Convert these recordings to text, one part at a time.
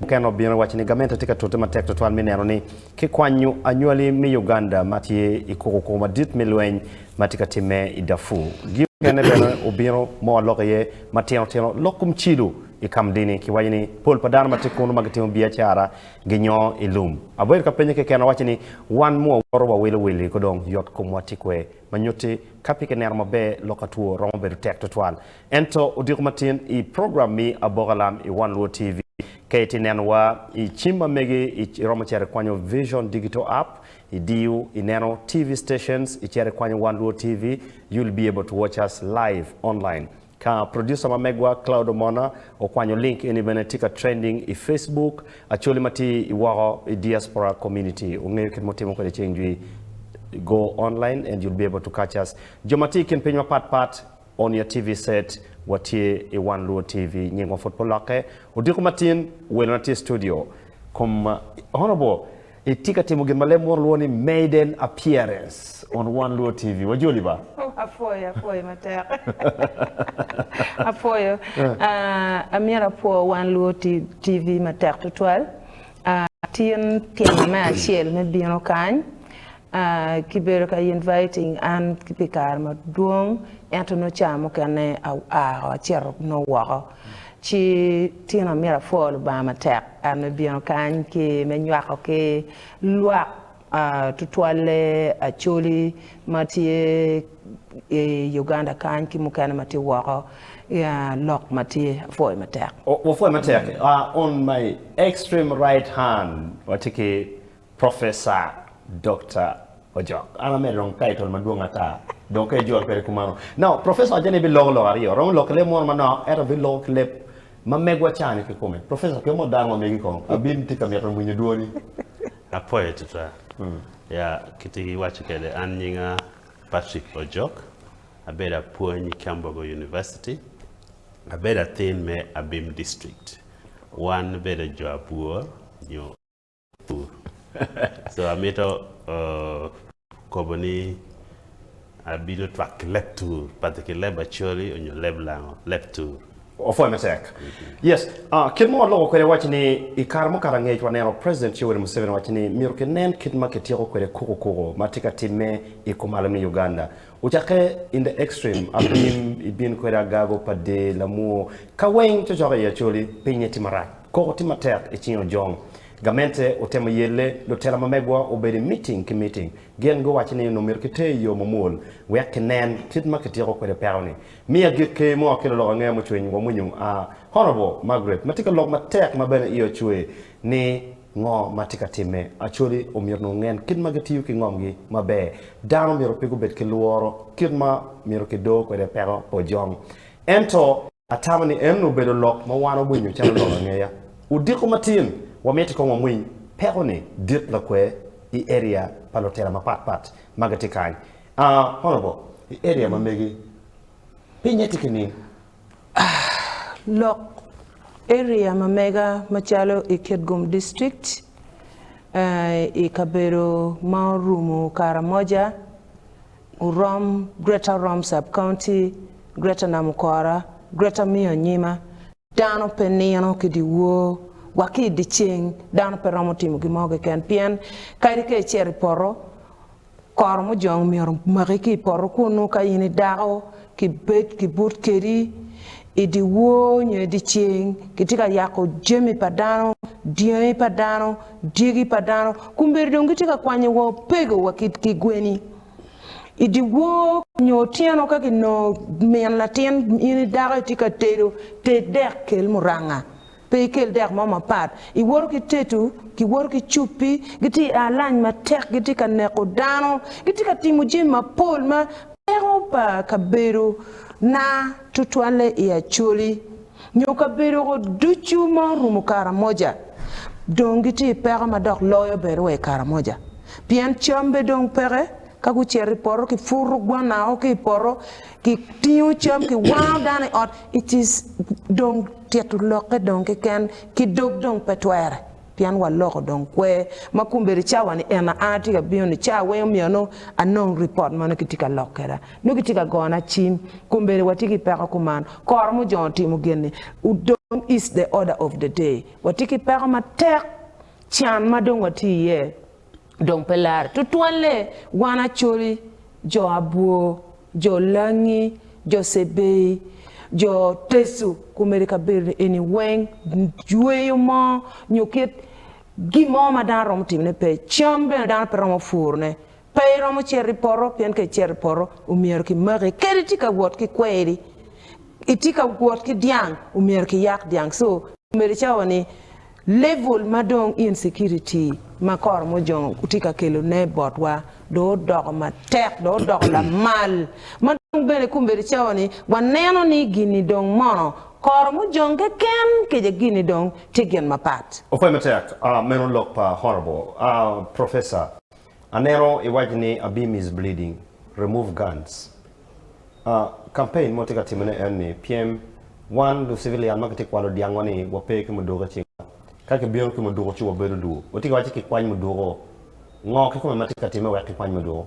Mukene obino owaco ni gamente tye ka tute matek tutwal me neno ni kikwanyo anywali me Uganda ma tye i kukuku madit me lweny ma tye ka timme i Darfur. Gin mukene bene obino ma waloko iye matino tino lok kum cilo i Kamdini ki waco ni pol pa dano ma tye kunu ma gitimo biacara ginyoo i lum. Abedo ka penye keken awaco ni wan mu wawoto wawilo wili ko dong yot komwa tye kwer ma nyutti ka pe kineno maber lok atwo romo bedo tek tutwal Ento odiko matin i program mi Aboka Lam i One Luo TV. Ka itye neno wa i cim ma mege iromo cito ikwanyo Vision Digital App, idiyo ineno TV Stations, icito ikwanyo One Luo TV, you'll be able to watch us live online. Ka producer ma megwa Cloud Omona okwanyo link eni bene tye ka trending i Facebook, Acholi ma tye i woko i Diaspora Community ongeyo kit mutimo kwede ceng jwi, go online and you'll be able to catch us. Jo ma tye i kin piny mapat pat On your TV set, Watye i One Luo TV. Nyingwa pud pe olokke. Odiko matin, welona tye i studio. Kom, Honourable, itye ka timo gin ma leb munu lwongo ni maiden appearance on One Luo TV. Wajoli ba! Oh, apwoyo, apwoyo matek. Apwoyo. Amyero apwo One Luo TV matek tutwal. Tin tyena me acel me bino kany. Ki bedo ka inviting an ki pi kare madwong ento nongo caa mukene a a acito nongo woko ci tino amyero apwo Lubanga matek and me bino kany ki me nywako ki lwak a tutwalle Acholi ma tye I Uganda kany ki mukene ma tye woko ya lok ma tye apwoyo matek. Wapwoyo matek. On my extreme right hand watye ki Professor Dokta Ojok, an amedo dong ka itol madwong ata, dong ka ijolo kwede kumano. Now, Professor waco ni ebiloko lok aryo, romo lok ki leb moro manok, ento biloko ki leb ma megwa cani kikome. Professor, pien modo dano mamegi kong, abin tye ka mito winyo dwoni. Apoye twatwa. Ya, kiti iwaco kwede, an nyinga Patrick Ojok, abedo apwony i Kyambogo University, abedo athin me Abim District. Wan bedo jo abwor nyo. pur. So amito kobo ni abino twak ki leb tur padi ki leb Acholi onyo leb Lango, leb tur. Opwoyo matek. Yes, kit ma waloko kwede waci ni i kare mukato angec waneno President Yoweri Museveni waci ni myero kinen kit ma kityeko kwede kuku kuku ma tye ka timme i kumalo me Uganda. Ocakke in the extreme abim i bin kwede agago pa dee lamwoo ka weng cocoka i acholi pinye tye marac koko tye matek i cing ojong gamente otemo yelle lutela ma megwa obedo i meeting ki meeting gin guwaco ni onongo myero ki ter i yoo mamwol wek ki nen kit ma ki tyeko kwede peko ni mi agikke mo ki lulok angeya mucwiny wa mwinyo a Honourable Margaret ma tye ka lok matek ma bene i o cwer ni Ngo ma tye ka timme? Acholi omyero ongen kit ma gitiyo ki ngomgi maber. Dano omyero pe gubed ki lworo kit ma myero kidoo kwede peko pojong. Ento. Atamo ni en obedo lok ma wan wawinyo calo lok angeya. Odiko matin, wamiti kong wamwiny peko ni dit lakwer i area pa lutela mapat pat ma gitye kany. Honorable, i area ma megi, pinye tye ki ning? Lok area ma mega macalo i Kitgum District, i kabedo ma orumo Karamoja, Orom, Greater Orom Sub County, Greater Namukora, Greater Miyo Anyima, dano pe nino ki dyewor wa ki i dyeceng dano pe romo timo gin mo keken pien kadi ka icito i poto Koro mujong myero omaki ki i poto kunnu ka in i dako, kibed kibut kedi i dyewor nyo i dyeceng, kitye ka yako jami pa dano, dyangi pa dano, dyegi pa dano, kombeddi dong gitye ka kwanyo wa opego wa ki gweni. I dyewor nyo otyeno ka kinongo min latin in i dako itye ka tedo, ted dek kel muranga. Pe ikel dek mo mapat. Iwoto ki teto, giwoto ki cuppi, gitye i alany matek, gitye ka neko dano, gitye ka timo jami mapol ma peko pa kabedo na tutwalle i Acholi nyo kabedo go ducu ma orumo Karamoja. Dong gitye i peko ma dok loyo bene wa i Karamoja pien cam be dong peke. Ka gucito i poto, kiputo gwanna o ki i poto. kitingo cam kiwango dano i ot it is dong tito lokke dong keken ki dog dong pe twere pien wa loko dong kwe ma kombeddi cawa ni en aa tye ka bino ni cawa weng omiyo nongo anong report ma nongo kitye ka lok kweda nongo kitye ka gona cim kombeddi watye ki peko kuman koro mujongo timo gini udong is the order of the day watye ki peko matek can ma dong watye iye. Dong pe larre tutwalle wan Acholi, jo Abwo, jo Langi, jo Cebei, jo Teso ku mere kabedo-ni eni weng, jweyo mo nyo kit gin mo ma dano romo timone pe. Cam bene dano pe romo purone. Pe iromo cito i poto pien ka icito i poto omyero kimaki. Kadi itye ka wot ki kweri, itye ka wot ki dyang omyero kiyak dyang. So, komedi cawa-ni Level ma dong insecurity ma koro mujong tye ka kelo ne botwa dong odoko matek dong odoko lamal ma dong bene kombeddi cawa ni wa neno ni gini dong mono koro mujong keken kica gini dong tye gin mapat. Opwoye matek meno lok pa Honourable Professor. Aneno iwaco ni Abim is bleeding, remove guns. Ah, campaign ma watye ka timone en ni pyem wan lu civilian ma kitye ka kwalo dyangwa ni wape ki muduku i cingwa. Ka kibino ki muduku ci wabedo dwu. Watye ka waco ni kikwany muduku-o. Ngo kikome ma tye ka timme wek kikwany muduku?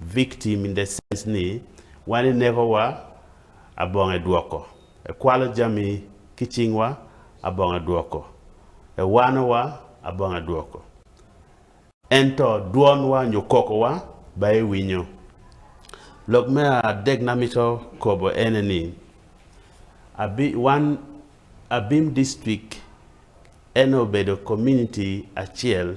Victim in the sense ni wan ineko wa abongo edwoko, ekwalo jami ki cing wa abongo edwoko, ewano wa abongo edwoko. Ento dwon wa nyo koko wa ba iwinyo. Lok me adek na mito kobo ene ni abi wan Abim district ene obedo community acel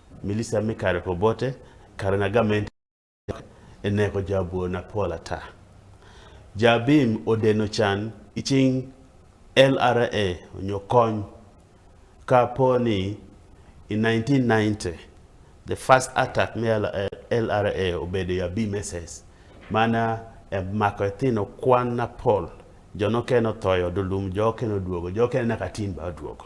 Milica me kare pa Obote, kare na gamente dok eneko jo abwo na pol ata. Jo abim odeno can ki cing LRA onyo kony ka po ni i 1990, the first attack me LRA obedo i abim SS. Man emako ethino kwan na pol, jo nokene otoyo, odulum, jo okene odwogo, jo okene naka atin bene odwogo.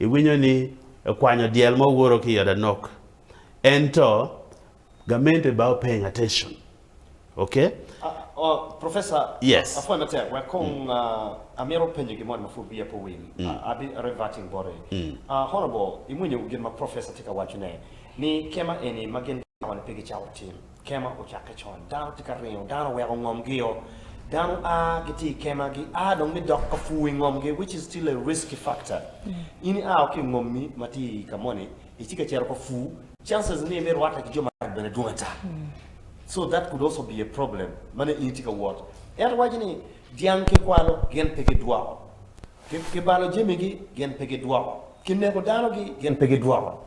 Iwinyo ni ekwanyo dyel mo woro ki iot anok ento gamente ba paying attention okay. Professor apwoyo matek wek kong amito penyo gin moni ma pud wiya pe owil I'll be reverting boti Honourable iwinyo gin ma professor tye ka waco ne ni kema eni ma gin dano ni pe gicako tim. Kema ocakke con, dano tye ka ringo, dano oweko ngomgi-o, dano a gitye i kema gia dong gidok ka pur i ngomgi which is still a risky factor. In i a wa ki i ngommi ma tye i ka moni itye ka cito ka pur, chances ni ime rwatte ki jo maraco bene dwong ata. So that could also be a problem ma nongo in itye ka wot. Ento waco ni dyang ki kwalo gin pe gidwoko, ki balo jamigi gin pe gidwoko, ki neko dano-gi gin pe gidwoko.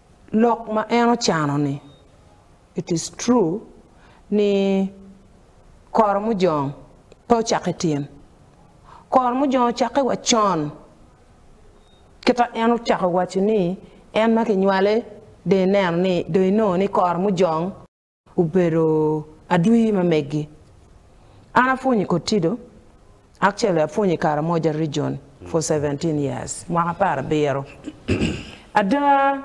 Lok ma en ocano ni, It is true ni koro mujong pe ocako i tin. Koro mujong ocakke wa con. Kita en ocako waco ni en ma kinywale dong ineno ni dong inongo ni koro mujong. Obedo adwi ma meggi. An apwonyo i Kotido, actually apwonyo i Karamoja Region for seventeen years, mwaka apar abiro. Ada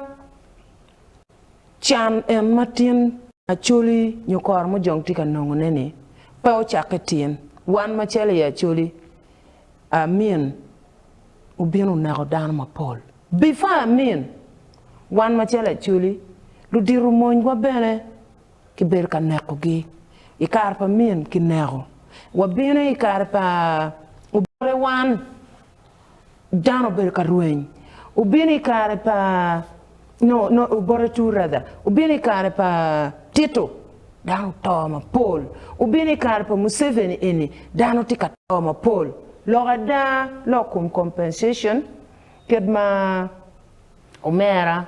can en ma tin Acholi nyo kor mujong tye ka nongone ni pe ocakke tin. Wan macalo i Acholi, Amin obino oneko dano mapol before Amin. Wan macalo Acholi, ludito monywa bene kibedo ka nekogi. I kare pa min kineko. Wabino i kare pa Obote wan dano obedo ka rweny. Obino i kare pa no no Obote two rather. Obino i kare pa Tito dano oto mapol. Obino i kare pa Museveni eni dano tye ka to mapol. Lok ada lok kom compensation kit ma Omera,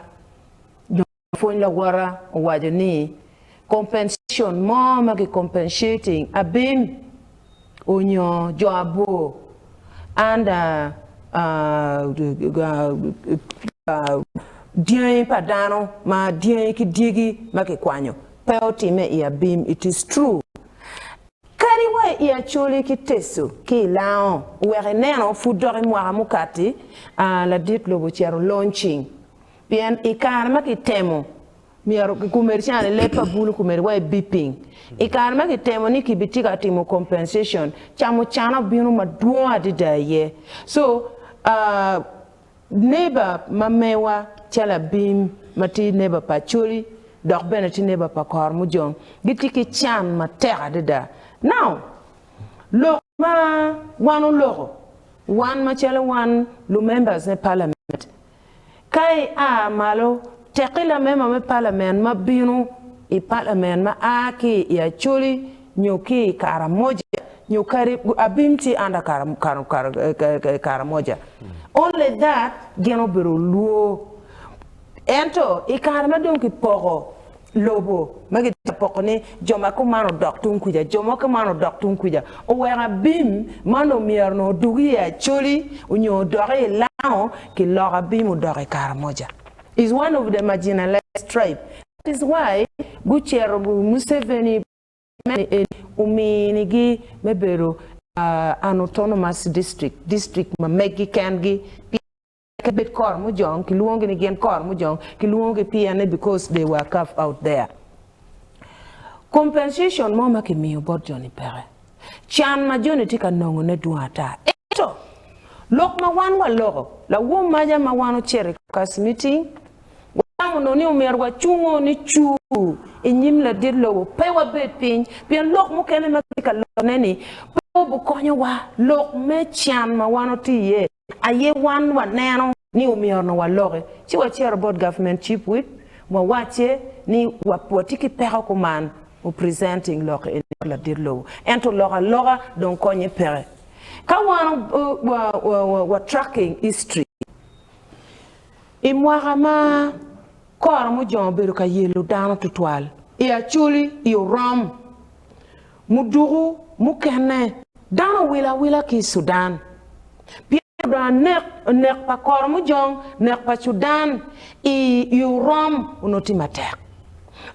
jo ma pwony lawota owaco ni compensation mo ma ki compensating abim onyo jo abor under dyangi pa dano ma dyangi ki dyegi ma ki kwanyo pe otime i abim it is true Kadi wa i Acholi ki Teso ki i Lango wek ineno pud dok i mwaka mukati a ladit lobo ocito launching pien i kare ma kitemo myero kikumeri ca ni leb pa bulu kumeri wa i beeping i kare ma kitemo ni ki bi tye ka timo compensation ca mucana obino madwong adida aye so Leba ma mewa calo abim ma tye leba pa Acholi dok bene tye leba pa Kormujong gitye ki can matek adada. Now, lok ma wan oloko, wan macalo wan lu-members me Parliament, ka ia malo, Tekki lamema me palamen ma bino i palamen ma a ki i Acholi nyo ki i Karamoja nyo kadi abim ci an i Karamoja. Only that gin obedo olwo. Ento i kare ma dong kipoko lobo ma kitye ka poko ni jo ma kuman odok tung kwica, jo ma kuman odok tung kwica, oweko abim ma onongo myero onongo odug i Acholi nyo odok i Lango, kiloko abim odok i Karamoja. is one of the marginalized tribe that is why gucero gu Museveni meno eni omini gi me bedo an autonomous district, district ma megi ken gi pien pe bed kor mujong kilwongo gi ni gin kor mujong kilwongo gi pien ni because they were carved out there. Compensation mo ma kimiyo bot joni peke. Can ma joni tye ka nongone dwong ata. Ento, lok ma wan waloko, lawom maja ma wan ocito i kac miting, watamo nongo ni omyero wacungo nicu i nyim ladit lobo, pe wabed piny, pien lok mukene ma kitye ka lokone-ni pe obikonyowa. Lok me can ma wan watye iye Aye wan waneno ni omyero waloki ci wacito bot government chief whip wawacce ni watye ki peko kuman o presenting lok eni bot ladit lobo ento lok aloka dong konye peke ka wan wa tracking history I mwaka ma koro mujongo obedo ka yelo dano tutwal I acholi I orom Muduku mukene, dano owilo awila ki i Sudan pien dong nek pa koro mujong, nek pa Sudan i Urom onongo tye matek.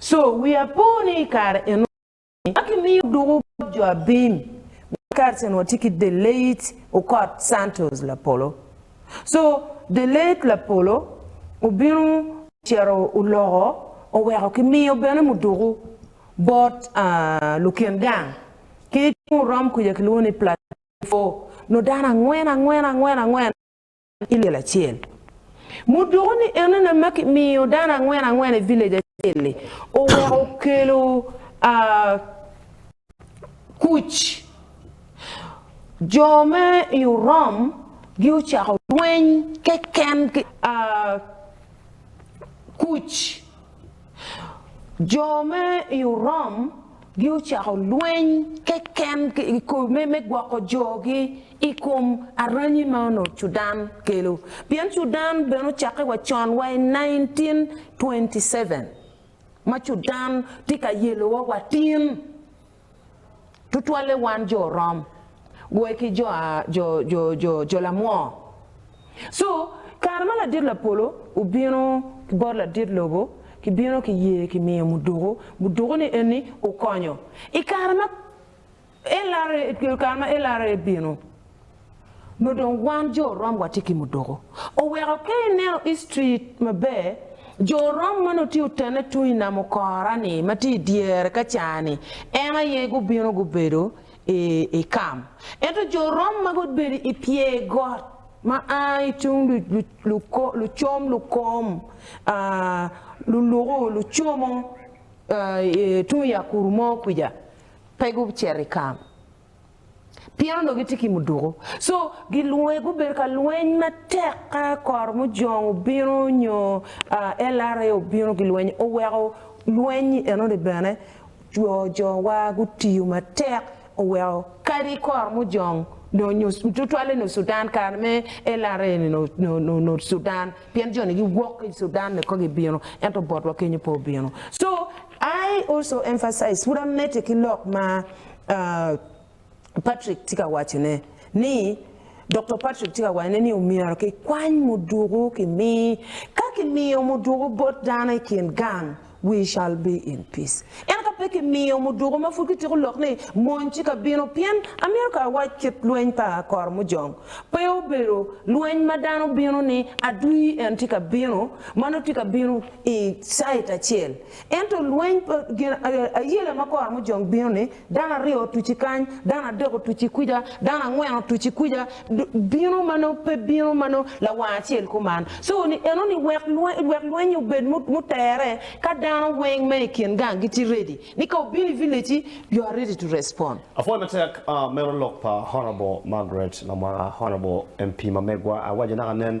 Co, wiya po ni i kare eno ni ma kimiyo duku bot jo abim ma Carson wa tye ki the late Okot Santos Lapolo. Co, the late Lapolo obino ocito oloko oweko kimiyo bene muduku bot lukin gang ki tung orom kuca kilwongo ni Platefo nyo dano angwen angwen angwen angwen i lel acel. Mudoko ni enene ma kimiyo dano angwen angwen i village acel-li oweko okelo kuc. Jo me i orom gi ocako lweny keken ki kuc. Jo me i Orom gi ocako lweny keken me gwoko jogi i kom aranyi ma onongo Cudan kelo, pien Cudan bene ocakke wa con wa i 1927 ma Cudan tye ka yelowa watin. tutwalle wan jo Rom, goye ki jo a jo jo jo jo lamwoo. Cu, kare ma ladit lapolo obino ki bot ladit lobo, kibino ki yee kimiyo muduku, muduku ni eni okonyo i kare ma LRA kare ma LRA bino. nyo dong wan jo orom watye ki mudoko oweko ka ineno history maber jo orom ma nongo tye otene tung i nam okora ni ma tye i dyere ka ca ni en aye gubino gubedo i kam ento jo orom ma gubedo i pye got ma a i tung lucom lukom luluku lucomo tung yakuru mo kwica pe gucito i kam. pien onongo gitye ki muduku. So gilwonge gubedo ka lweny matek ka kor mujong obino nyo LRA obino gilweny oweko lweny enoni bene jo jowa gutiyo matek oweko kadi kor mujong nyo tutwalle nyo Sudan kare me LRA ni nyo Sudan pien joni giwok ki Sudan ni kong gibino ento botwa kenyo pe obino so I also emphasize, pud amedde ki lok ma Patrick tye ka wacone ni, Doktor Patrick tye ka wacone ni omyero kikwany muduku kimi. Ka kimiyo muduku bot dano i kin gang, we shall be in peace. Ento ka pe kimiyo muduku ma pud kitiko lok ni mony tye ka bino, pien Amerka awac kit lweny pa Koromujong pe obedo lweny ma dano bino ni adwi en tye ka bino, ma nongo tye ka bino i cait acel. Ento lweny pa gin ayela ma kora mujong bino ni, dano aryo otuci kany, dano adek otuci kwica, dano angwen otuci kwica, bino ma nongo pe bino ma nongo lawang acel kuman. So ni eno ni wek lweny wek lweny obed mutere ka dano weng ma i kin gang gitye ready ni ka obino i village ci you are ready to respond. Apwoyo matek meno lok pa Honourable Margaret Lamwaka Honourable MP ma megwa, awaco naka nen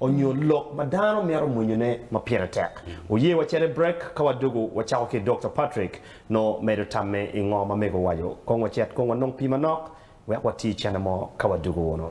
onyo lok ma dano mito mwenyone ma pire tek. Wuye wacene brek ka wadugu wacako ki Dokta Patrick no medo tamme i ngo ma mego waco. Kong wacit kong wanong pi manok wek wati cene mo ka wadugu wunu.